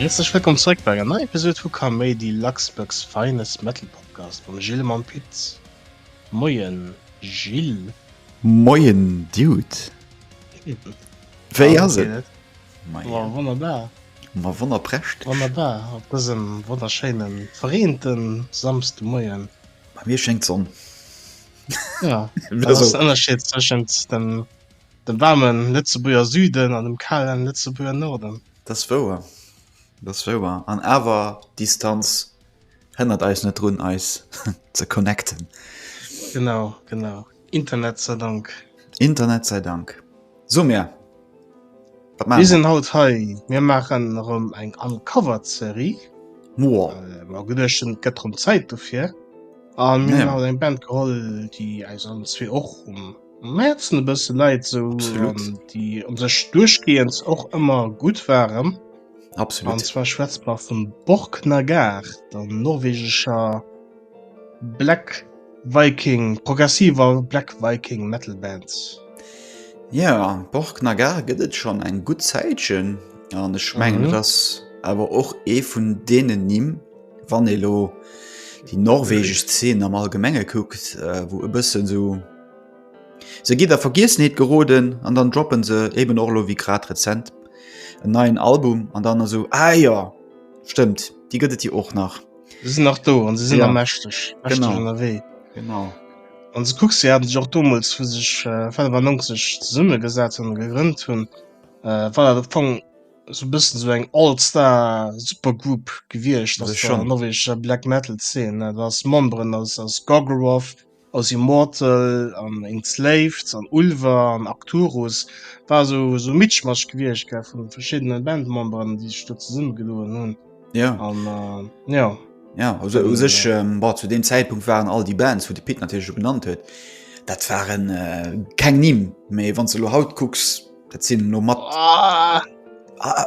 Häerzlech wëllkomm zréck bei enger neier Episod vu Kaméidi, Luxbugs finest Metal Podcast mam Gilles a mam Pit. Moien Gilles. Moien Dude, wéi ass et? Wonnerbar. Ma wonnerprächtig! Wonnerbar op dësem wonnerschéine verreente Samsdemoien. Bei mir schéngt d'Sonn. Jo, dat ass den Ënnerscheed tëschent dem waarme Lëtzebuerger Süden an dem kale Lëtzebuerger Norden. Dat ass wouer, dat ass wouer. An awer, d'Distanz hënnert eis net drun, eis ze connecten. Genau, genau. Internet sei Dank. Internet sei Dank. So mir, wat maache mer? Mir sinn haut hei, mir maachen erëm eng Uncovered Serie. Wow. Mir hu geduecht, et gëtt erëm Zäit dofir. A mir hunn haut eng Band geholl, déi eis allen zwee och um Häerzen e bësse läit, esou déi u sech duerchgehend och ëmmer gutt waren. Absolut. An zwar schwätze mer vum Borknagar, der norwegescher. Black Viking, progressiver Black Viking Metal Band. Jo, Borknagar gëtt et schonn eng gutt Zäitchen an ech mengen, dat ass awer och ee vun deenen Nimm, wann ee elo déi norwegesch Zeen am Allgemenge kuckt, wou e bëssen esou, se ginn a Vergiessenheet geroden an dann droppe se eben och elo wéi grad rezent en neien Album an dann esou, ah jo, stëmmt, déi gëtt et jo och nach. Sie sinn nach do an sie sinn ja. mächteg wéi. Genau. An se kucks se hat sech och domols vu sech äh, 95 zesumme gesat hun gegrënnt hunn äh, war dat op Fong so bëssen so eng Allstar Supergroup gewiecht, dat schon norweger Black Metal Szene, dat ass Memberen aus aus Gogglewolf, Aus Immortal an Enslaved an Ulver an Arcturus war esou e Mitschmasch gewiecht vun verschiddenen Bandmemberen déi sech do zesumme gedoen hunn an jo. Jo also u sech bon zu deem Zäitpunkt waren all déi Bands wou de Pit natierlech scho genannt huet dat waren keng Nimm mee wann s de elo haut kucks, Dat sinn no mat ah,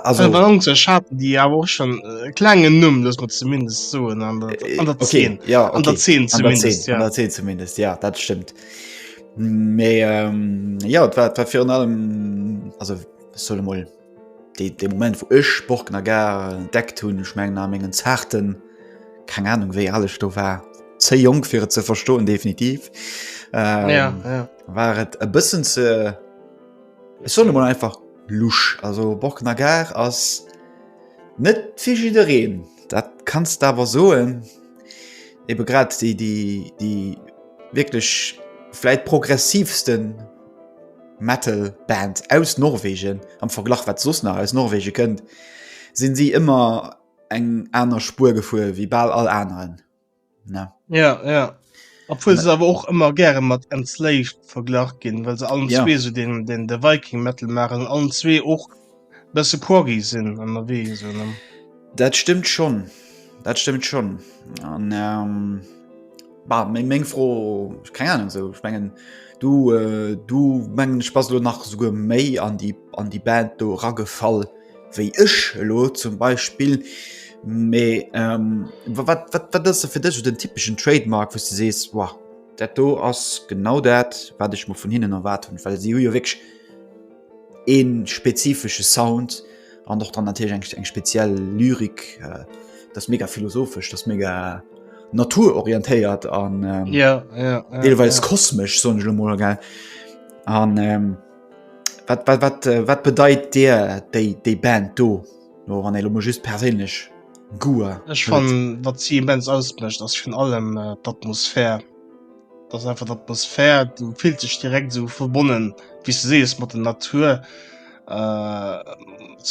also, Balance schaten déi awer och schon äh, klengen Numm, dats mat zumindest soen an der, äh, an der okay, 10 ja, okay. an der 10 zumindest, ja. an der 10 zumindest ja dat stimmt. Mee ähm, ja dat war, dat war fir an allem also solle moll de, de moment wo ech Sport na gar deck hunn ech menggen a mengen zarten keng Ahnung wéi alles do war ze jong fir et ze verstoen definitiv ähm, ja, ja. war et e bëssen ze Ech soen emol einfach Lusch. Also Borkener Gare ass net fir jiddereen, dat kanns de awer soen. Ebe grad déi, déi, déi wierklech vläit progressivste Metal Band aus Norwegen am Verglach wat soss nach aus Norwegen kënnt, sinn si ëmmer eng aner Spuer gefuer wéi bal all aneren. ne ja ja obwohl se aber och immer gerne mat enslaved verglach gin well se allen ja. zwee so den den der viking metal machen allen zwee och besse quaggi sinn an der wee so ne dat stimmt schon dat stimmt schon an ähm, bah, meng meng froh keine ahnung so ich mengen du äh, du mengen spaß du nach so méi an die an die band do raggefall wéi ech elo zum Beispill mee wat ass se fir dech den typeschen Trademark wou du sees wow dat do ass genau dat wat ech mer vun hinnen erwaart hunn, well si hu jo wierklech ee spezifesche Sound an och dann natierlech eng eng speziell Lyrik. Dat ass mega philosophesch, dat ass mega naturorientéiert an deelweis kosmesch soen ech elo mol gell an. wat, wat, wat, äh, wat bedeit Dir déi, déi Band do? No wann elo just perélech Guer. Ech fan wat sie immens ausbrecht ass vun allem äh, d'Atmosphär. Dass einfach d'Atmosphär du fillt sech direkt so verbonnen wie se sees mat der Natur äh,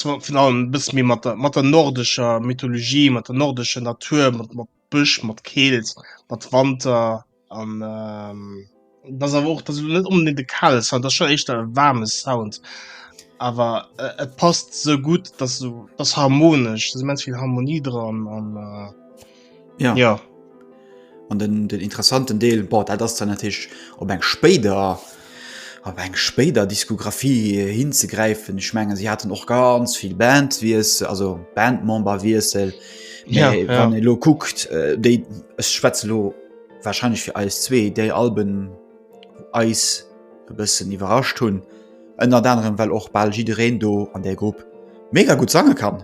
vun allem bis mir mat der mat der nordescher Mythologie, mat der nordescher Natur, mat, mat Bësch mat Keelt, mat Wanter an dat ass awer och dat net onbedingt de kale Sound, dat schon éischter e waarme Sound. Awer et passt sou gutt, dat sou ass harmonesch, dat immens vill Harmonie dran an ja. ja. An den den interessanten Deel, boah, dat ass dann natierlech op eng spéider. op eng spéider Diskografie hinzegräifen. Ech mengen si haten och ganz vill Bandwiessel, also Bandmemberwiessel. Ja, Mee ja. wann ee lo kuckt, äh, déi ech schwätze lo wahrscheinlech fir eis zwee, déi Alben eis e bëssen iwwerrascht hunn, ënnert anerem well och bal jiddereen do an där Grupp mega gutt sange kann.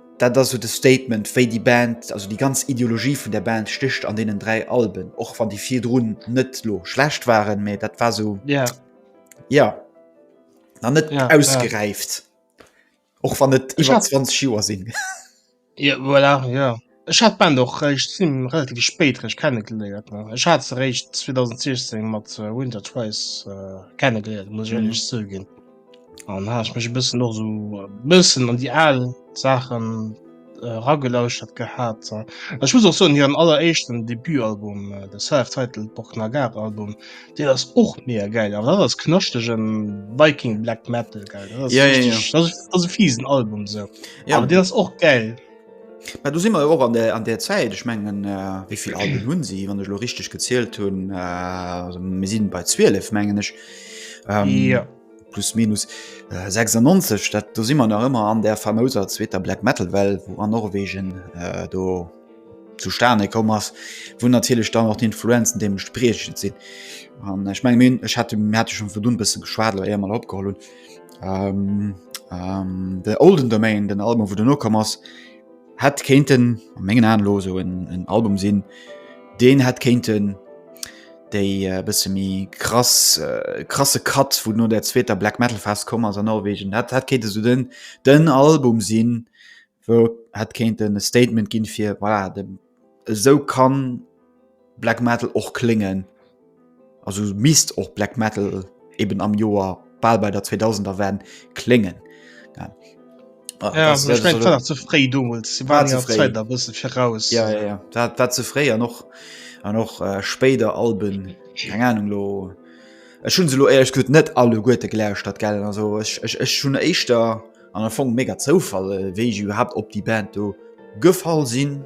Dat ass esou de Statement, wéi déi Band, also déi ganz Ideologie vun der Band stécht an deenen dräi Alben, och wann déi virdrun net elo schlecht waren, mä dat war esou, jo, nach net ausgeräift, och wann et iwwer 20 Joer sinn. Jo, voilà, jo. Ech hat d'Band och eréischt zimlech relativ spéit eréischt kennegeléiert. Ech hat se eréischt 2016 mat Winter Twice kennegeléiert, muss ech éierlech zouginn. An ha ech mech e bëssen och sou e bëssen an déi al Saachen äh, ragelauschtert gehat. Äh. Ech muss och soen, hiren alleréischten Debutalbum, äh, de Self-Titled Borknagar Album, deen ass och mega geil. Awer dat ass knaschtegen Viking Black Metal, gell? Dat ass Ja, ja, ja. richtig, dat ass, dat ass e fiesen Album sou. Ja. Awer deen ass och geil. Mä do si mer jo och an der, an der Zäit, ech mengen äh, wéi vill Alben hunn si, wann ech lo richteg gezielt hunn, äh, mir sinn bei 12 mengen ech. Ähm, ja. Plus minus äh, 96, dat do si man nach ëmmer an der famouser zweter Black Metal Well, wo an Norwegen äh, do zu Stane kom ass, wou natierlech dann noch d'Influenzen deem spreechend sinn. An ech meng minn ech hat hat schon vu dun bësse geschwaadel, eier mal opgeholl hunn. Ähm, ähm, de Olden Domain, den Album wou duerno komm ass, hätt kéinten a mengen Aen elo esou en en Album sinn, deen hätt kéinten déi e bësse méi krass krasse Cut vun no der zweeter Black Metal Phas komm ass a Norwegen, dat dat kéint esou den den Album sinn, wou hätt kéinten e Statement ginn, fir voilà, dem, esou kann Black Metal och kléngen, also misst och Black Metal eben am Joer bal bei der 2000er Wend kléngen. Ja. Ah, ja, das, das, das, das, zu fréi domuls war zu fréi. Zeit, bist du voraus ja, ja, ja. Dat, dat zu fréi an noch an noch äh, spéider Alben eng Ahnung lo Ech hun se lo ehrlich gut net alle Gute gläuscht dat gell also ech, ech, ech hun éischter An am Fong mega Zoufall, äh, wéi ech überhaupt op déi Band do gefall sinn.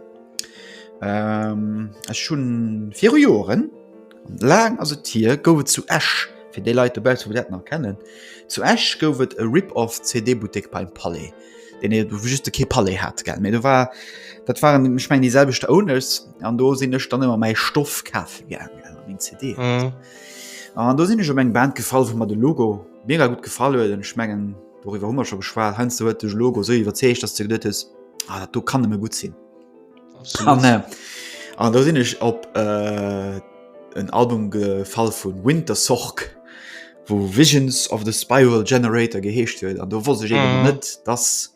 Ähm, ech hunn viru Joren, laang ass et hier, gouf et zu Esch, fir déi Leit dobaussen, déi dat nach kennen, zu Esch gouf et e Rip-Off-CD-Buttek beim Palais, deen ee wou just e kee Palais hat, gell. Mee do war, dat waren, ech mengen, déi selwecht Owners, an do sinn ech dann ëmmer mäi Stoff kafe gaangen, also meng CDen. Mhm. An do sinn ech op eng Band gefall, wou mer de Logo mega gutt gefall huet, an ech mengen, Doriwwer hu mer scho geschwat. Heiansdo huet dech Logo esou iwwerzeegt, dass du geduet hues, ah, dat do kann nëmme gutt sinn. An äh, an do sinn ech op äh, en Album gefall vun Winter Sorg, wou Visions of the Spiral Generator geheescht huet. An do wosst ech eben Mhm. net, dass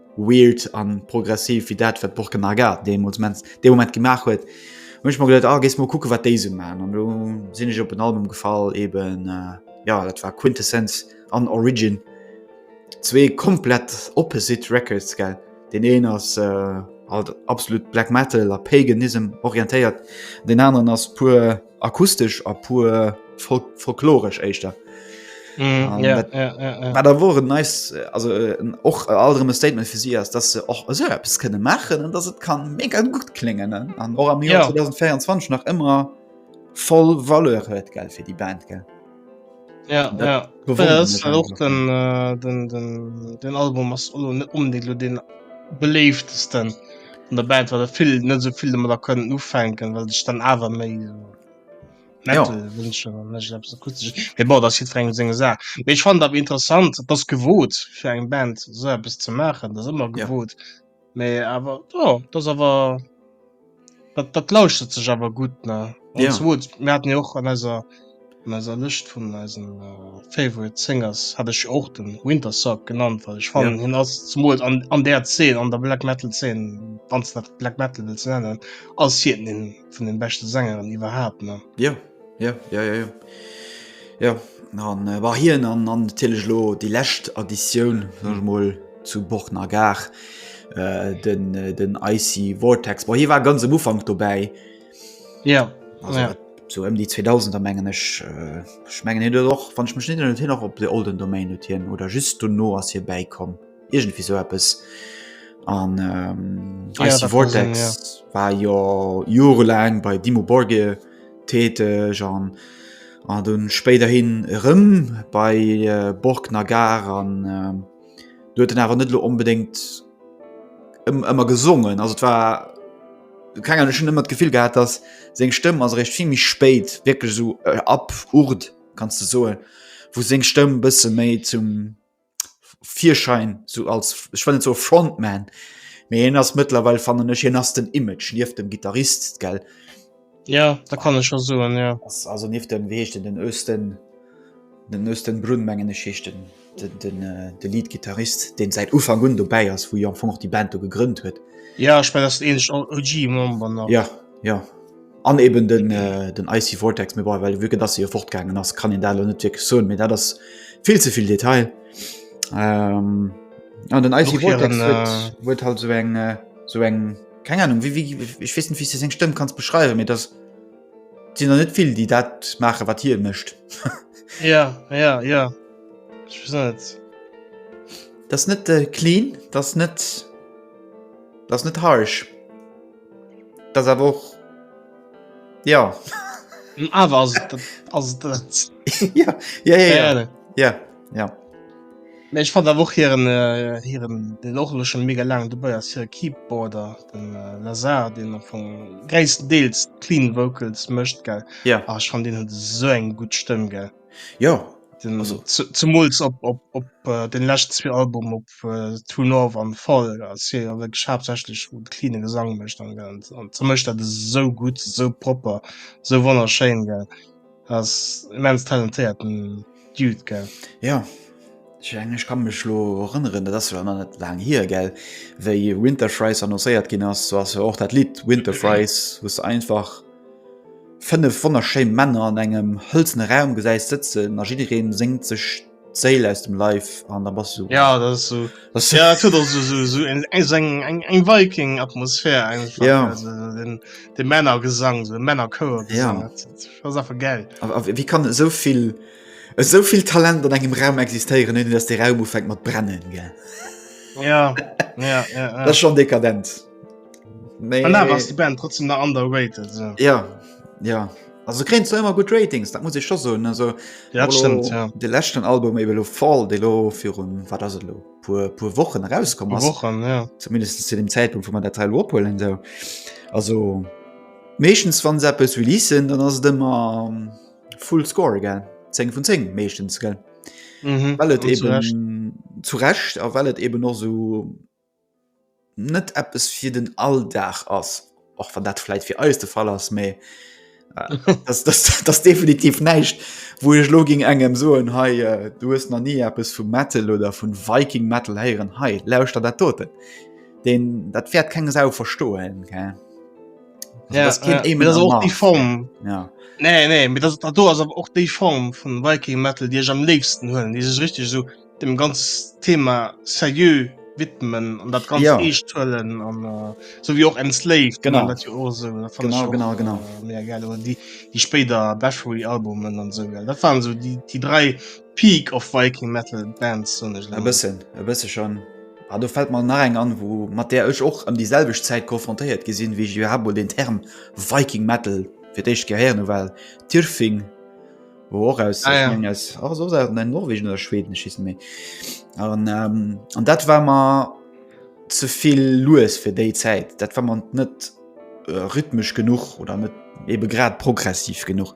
weird an progressiv wie dat wat Borke Marga deemols mens de moment gemaach huet mech mal gelet a ah, gees mal kucke wat déise ma an du sinn ech op en Album gefall eben äh, ja dat war Quintessenz an Origin zwee komplett opposite Records gell den een ass äh, alt absolut Black Metal a Paganism orientéiert den anderen ass puer akustesch a puer folkloresch éischter. Mm, ja, dat, ja, ja, ja. da wo nice, also äh, och äh, alle Statement fir sie ass, dat se och eso Apps kënne machen an dat et kann mé ganz gut klingen an och am Joer ja. 2024 nach ëmmer voll Valeur huet gell fir die Band gell. den Album ass net onbedingt lo den beléiftesten an der Band war der vill net sou vill mat der kënnen ufänken, well dech dann awer méi war der seng seng Sa. Ech fand dat interessant, dats gewot fir eng Band sou eppes ze maachen, dat ëmmer gewot. Ja. Mee awer oh, dat awer dat, dat lauschtert sech awer gutt ne ja. mir hatten jo och an eiser an eiser Lëcht vun eisen uh, favorite Singers hat ech och den Wintersock genannt weil ich fan ja. hin ass zumut an, an der 10 an der Black metal 10 wann dat Black metal ze nennen ass hi den vun den beste Sängeren iwwerhaapt ne ja. Ja, ja, ja, ja. Ja, an äh, war hien an an natierlech lo déi lescht Additioun sech mol zu Borna Gar äh, den äh, den Icy Vortex. War hie war ganz am Ufang dobäi. Ja. Also, ja. So ëm déi 2000er mengen ech äh, ich mengen hien och wann ich mech net hin nach op de Olden Domain hien oder just du no ass hir bäikomm. Irgendwie so etwas. An ähm, ja, Icy Vortex sehen, ja. war ja jahrelang bei Dimo Borgir tätig und, und dann späterhin rum bei äh, Borg Nagar und ähm, du hast dann aber nicht unbedingt immer gesungen. Also es war keine Ahnung, schon immer das Gefühl gehabt, dass seine Stimme also recht viel mich spät, wirklich so äh, ab Urd, kannst du so, wo seine Stimme ein bisschen mehr zum Virschein so als ech well zo Frontman méi en ass mëttlerweil fannnen ech hien ass den Image nieft dem Gitarrist gell. Ja da kann ech scho soen ja. Also nief dem wéi heescht den den Östen den Östen Brunn mengen ech heescht den den den äh, de Leadgitarrist deen säit Ufang un dobäi ass, wou jo am Fong och déi Band do gegrënnt huet. Ja ech mengen ass den eenzechten OG Member nach. Ja, ja. An eben den, äh, den Icy Vortex, mir bon, well vu dass se jo fortgaangen ass, kann een dat lo net wierklech soen, mee dat ass vill ze vill Detail. Ähm, an den Icy Vortex huet äh, halt so eng äh, so eng keng Ahnung wie, wie, ich wees net wie se seng Stëmm kanns beschreiwen, mee dat sinn er net vill, déi dat maache wat hie mécht. ja ja ja Dat net äh, clean, dat net dat net harsch. Das awer och Ja. Awer ass et ass et Ja ja ja ja ja. Mee ech fand awer och hiren hiren den och elo schonn mega laang dobäi ass hire Keyboarder den Lazar deen am Fong gréisstendeels d'Clean Vocals mécht gell? Jo. Ah ech fand deen huet esou eng gutt Stëmm gell. Jo zemols op den lescht zwee Album op True North an Fall ass hie jo wierklech haaptsächlech vum cleane Gesang mécht an ze mécht dat esou gutt, esou propper, esou wonnerschéin. Ass immens talentéierten Dude gell. Jo. Ech menge ech ka mech lo erënneren, dat ass jo nach net laang hier gell, wéi Winterfries annoncéiert ginn ass, do ass jo och dat Lidd Winterfries, wou s de einfach fënnef wonnerschéi Männer an engem hëlzene Raum gesäis sëtzen a jidderee séngt sech d'Séil aus dem Leif an. Da bass du. Ja, dat ass esou, ja dat huet och esou esou eng eng eng Viking-Atmosphär einfach. Ja. Also den de Männergesang, esou e Männerchouergesang. Ja. Dat ass einfach gäil. A wéi kann esou vill. Esou vill Talent an engem Raum existéieren ouni dass dee Raum ufänkt mat brennen, gell? Ja, ja, ja, ja. Dat ass schonn dekadent. Mee An awer ass déi Band trotzdem nach underrated. So. Ja, ja. Also kréint zwar ëmmer gutt Ratings, dat muss ech scho soen. Also Ja, dat stimmt, ja. de leschten Album ebe lo Fall, dee lo virun wat ass et lo puer puer Wochen erauskomm ass. Wochen, ja. zumindest zu dem Zeitpunkt wo man der Teil opholen so also meeschtens wann se eppes releasen dann ass et immer ähm, Full Score gell 10 vun 10 meeschtens gell mhm. Well et eben zurecht a well et eben och so net Appppes fir den Alldag ass och wann dat läit fir eis de Fall ass méi das, das, das definitiv näicht wo ech lo ging engem so en hei äh, du hast na nie Appppes vu Metal oder vun Viking Metal heieren hei lauscht der dat doten den dat fährt keng sau verstohlen gell ja, das kind ja, das auch die form ja nee nee mit das du also auch die form von viking metal dir am nächsten hören dieses richtig so dem ganz thema serieux widmen und das ganz ja. stellen an äh, so wie auch ein slave genau das auch so das genau, auch, genau genau äh, mehr geil und die die später battery albumen und so geil das waren so die die drei die Peak of Viking Metal Bands soen ech elo. E bëssen, e bësse schonn. A do fält mer nach eng an, wou mat där ech och ëm déi selwecht Zäit konfrontéiert gi sinn, wéi ech iwwerhaapt mol den Term Viking Metal fir d'éischt Kéier héieren hu, war Tyrfing, wou och aus, Ah ech ja. mengen aus, ah, ass och aus Norwegen oder Schweden, ech weess net méi. An, ähm, an dat war mer ze vill lues fir déi Zäit, dat war mer net rhythmesch genuch oder net eebe grad progressiv genuch.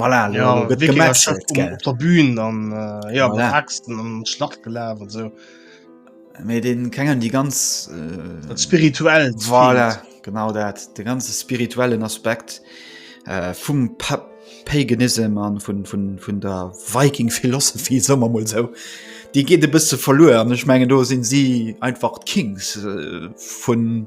Voilà, ja, gëtt gemetzelt, gell. Op der Bühn an äh, ja, voilà. Axten an Schlacht gelaf an so. Mee den klengen déi ganz äh, dat spirituell voilà, genau dat de ganze spirituellen Aspekt äh, vum pa Paganism an vun vun vun der Viking Philosophie sommer mol sou. Déi geet e bësse verluer an ech mengen do sinn si einfach d'Kings äh, vun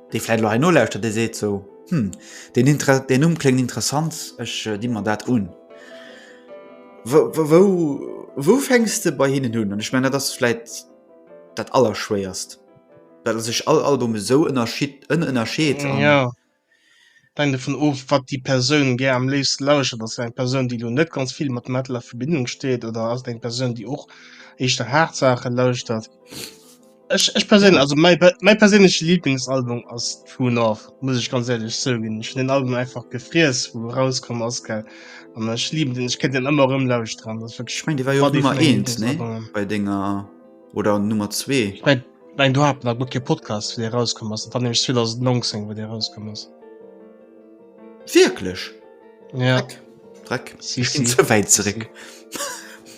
dee vläit elo hei nolauschtert, dee seet sou, Hm, deen Inter, deen Numm kléngt interessant, ech di mer dat un. Wou, wou, wou fänks de bei hinnen un? An ech mengen, dat ass vläit dat Allerschwéierst, well a sech all Album esou ënnerschied, ënnerscheet an. Jo, et hänkt dovun of, wat déi Persoun gär am léifste lauschtert. Ass et eng Persoun, déi elo net ganz vill mat Metal a Verbindung steet, oder ass et eng Persoun, déi och éischter haart Saache lauschtert? Ech, ech perséinlech, also mäi, per- mäi perséinleche Lieblingsalbum ass True North, muss ech ganz ehrlech zouginn. Ech hun den Album einfach gefriess, wou e rauskomm ass, gell. An ech lieben den, ech kéint den ëmmer erëm lauschteren. Dat ass wierklech Ich meng, déi war jo och mat ee vun Nummer menge eent, nee? Lieblingsalbumen. Bei denger, oder Nummer zwee. Ich mein, ich mein, do hat mer guer kee Podcast, wéi dee rauskomm ass. Dat war nämlech 2019, wou dee rauskomm ass. Wierklech? Ja. Dreck. Ich bin zu weit zurück.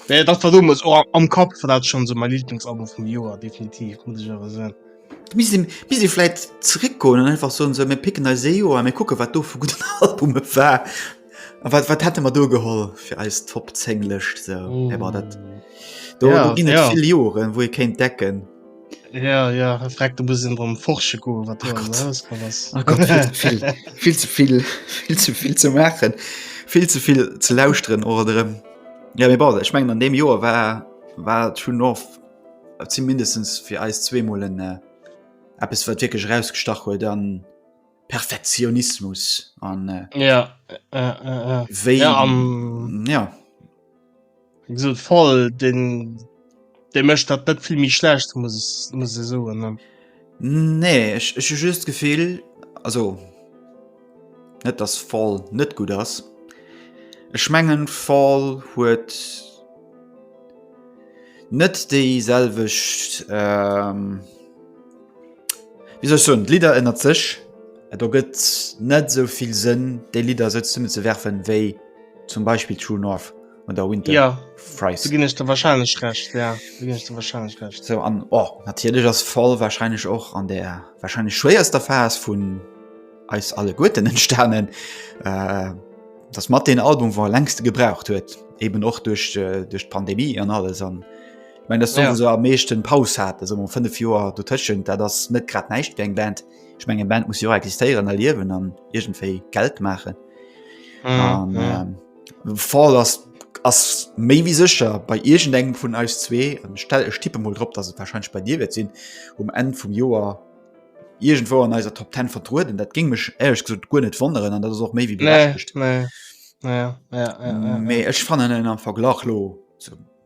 Ja, das war dummes oh, am Kopf war dat schon so mein Lieblingsalbum vum Joer definitiv muss ich aber sagen. Bis bis vielleicht zurückkommen einfach so so mir picken als SEO mir gucken wat do vu gut Album war wat wat hätte man do geholl fir als top zenglecht so. mm. dat do, ja, do ja. Joren wo ihr kennt decken Ja, ja, er fragt du muss drum forsche go wat oh oh Gott, viel, viel, viel zu viel viel zu viel zu machen viel zu viel zu lausren oder ja mir bad ich mengen an dem Joer war war schon of sie mindestens fir eis zwee Molen äh, App es wat wirklich rausgestach hue dann Perfektionismus an äh, ja, äh, äh, äh, ja, um, ja. So voll den de mecht dat net vill méi schlecht muss muss se so nee ech, ech just gefehl also net das voll net gut ass ech mengen voll huet net déi selwecht ähm, wieso schon lieder ënnert sech et do gëtt net soviel sënn déi lieder se zunne ze werfen wéi zum beispill true north an der Winter ja, Freis gin ech der wahrscheinlich recht ja, der wahrscheinlich recht. So, an oh, natierlech ass voll wahrscheinlich och an der wahrscheinlich schwéierster Phas vun eis alle Guten entstanen. Äh, dass mat den Album war längste gebraucht huet eben och durch äh, durch Pandemie an alles an ich mein, das ja. so am meeschten Paus hat also um 5 Joer du tschen da das net grad neicht eng Band ich mengge Band muss jo existieren erliewen an irgendéi Geld machen mhm, an, ja. ähm, Fall ass ass méi wéi sécher bei iergendengem vun eis zwee. Ech tippe mol drop, dass et warscheinlech bei dir wäert sinn, um Enn vum Joer iergendwou an eiser Top 10 vertrueden. Dat géing mech éierlech gesot guer net wonneren an dat ass och méi wéi berechtegt. Mee ech fannen en am Verglach lo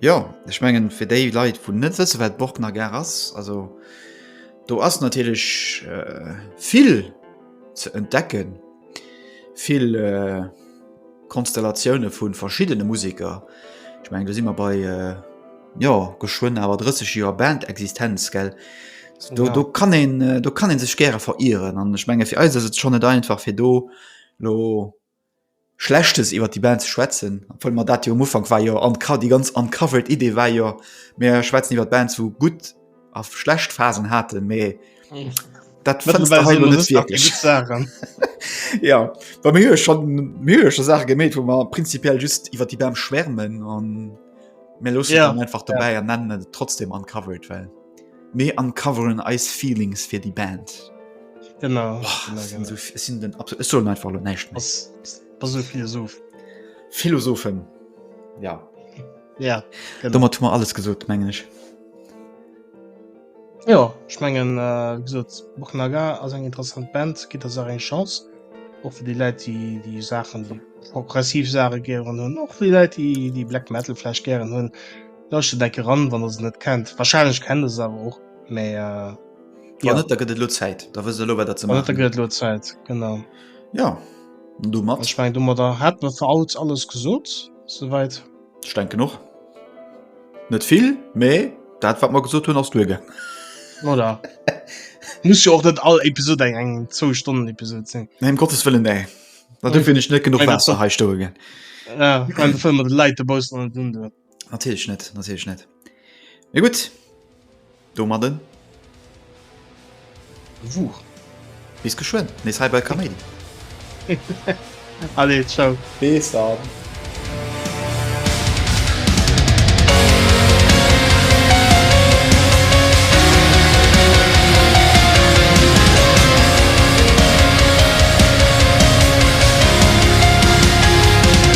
Jo, ech mengen fir déi Leit wou net wësse wat d'Borgner Gare ass, also do ass natierlech vill ze entdecken, vill Konstellatioune vu verschiddene Museker. Ech mengen do si mer bei jo geschwënn awer 30 Joer Band-Existenz gell, do do kann een do kann ee sech gäre verieren an ech menge fir eis ass et schonn net einfach fir do lo, Schlechtes iwwert déi Band ze schwätzen, obwuel mer dat jo um Ufank war jo an déi ganz Uncovered Idee war jo mir schwätzen iwwert Bands wou gutt a schlecht Phasen haten, mee dat fënns de hei elo net wierklech. Jo well mir hu jo schonn mir hu jo scho Saache gemeet wou mer prinzipiell just iwwert déi Band schwärmen an mir loossen et dann einfach dobäi an nennen et trotzdem Uncovered well. Mir uncoveren eis Feelings fir déi Band. Genau, oh, genau, genau. So, es sind den absolut, es soll einfach nur nicht mehr. Was, was so Philosoph. Philosophen. Ja. Ja, genau. Damit haben wir alles gesagt, meine ich. Ja, ich mengen äh, gesot Bochnaga ass eng interessant Band, gitt ass eng Chance och fir die Leiit die die Sachen die progressiv Sache gieren hunn och die Leiit die die Black Metal Flasch gieren hunn. Leuchte deck eran wann der se net kennt. Wahrscheinlech kennt der se awer och, mä Wann ja. net, da gëtt et lo Zäit. Da wësst der lo, wat der ze Wann net, da maachen. gëtt et lo Zäit, genau. Ja, an An domat, ech mengen, domadder hätte mer fir haut alles gesot, souwäit. ech denken och, net vill, mä dat, wat mer gesot hunn, ass duergaangen. Voilà. Muss jo och net all Episod eng eng Zwou-Stonnen-Episod sinn. Nee, ëm Gottes Wëllen, nee. Dofir hunn ech net genuch Waasser hei stoe ginn. Ja, an de Film mat de Läit dobaussen an et undoen. Natierlech net, natierlech net. Mee gutt, domadden. Wuch. Bis geschwënn, nees hei bei Kaméidi. Allez, ciao. Bis dann.